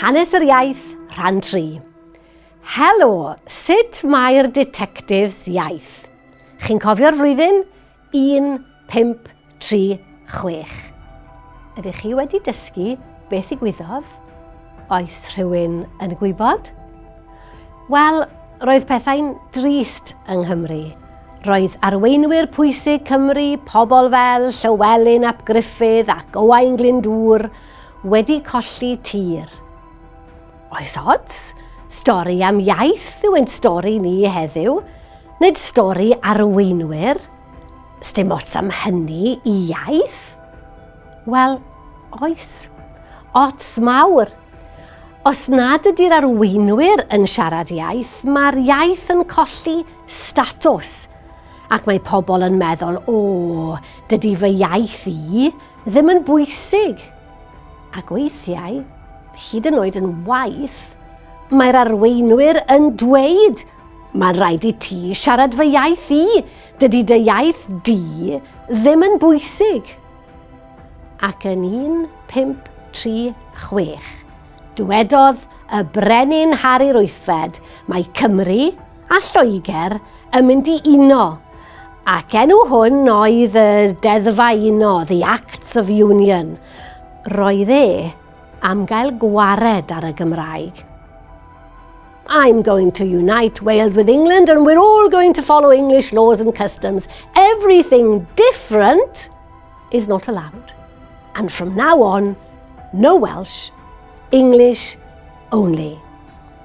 Hanes yr iaith, rhan 3. Helo, sut mae'r Detectives iaith? Chi'n cofio'r flwyddyn? 1, 5, 3, 6. Ydych chi wedi dysgu beth i gwyddodd? Oes rhywun yn gwybod? Wel, roedd pethau'n drist yng Nghymru. Roedd arweinwyr pwysig Cymru, pobl fel Llywelyn ap Gruffydd ac Owain Glyndŵr, wedi colli tir. Oes ots? Stori am iaith yw ein stori ni heddiw, nid stori arweinwyr. Sdim ots am hynny i iaith? Wel, oes. Ots mawr. Os nad ydy'r arweinwyr yn siarad iaith, mae'r iaith yn colli statws. Ac mae pobl yn meddwl, o, dydy fy iaith i Ddim yn bwysig! Ac weithiau, hyd yn oed yn waeth, mae'r arweinwyr yn dweud, Mae'n rhaid i ti siarad fy iaith i, dydy dy iaith di ddim yn bwysig! Ac yn 1536, dywedodd y Brenin Harri'r Wythfed, Mae Cymru, a Lloegr yn mynd i uno, ac enw hwn oedd y Deddfa Uno, The Acts of Union. Roedd e am gael gwared ar y Gymraeg. I'm going to unite Wales with England and we're all going to follow English laws and customs. Everything different is not allowed. And from now on, no Welsh, English only.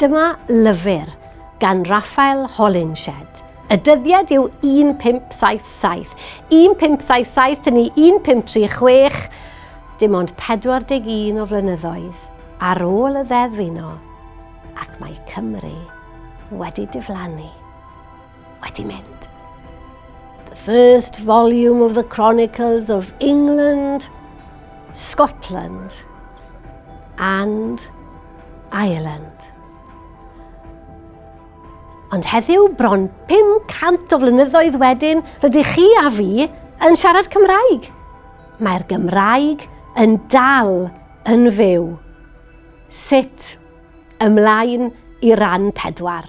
Dyma lyfr gan Rafael Holinshed. Y dyddiad yw 1577. 1577 ni 1536, dim ond 41 o flynyddoedd ar ôl y Ddeddf Uno, ac mae Cymru wedi diflannu. wedi mynd. The first volume of the Chronicles of England, Scotland and Ireland. Ond heddiw, bron 500 o flynyddoedd wedyn, rydych chi a fi yn siarad Cymraeg. Mae'r Gymraeg yn dal yn fyw. Sut? Ymlaen i ran pedwar.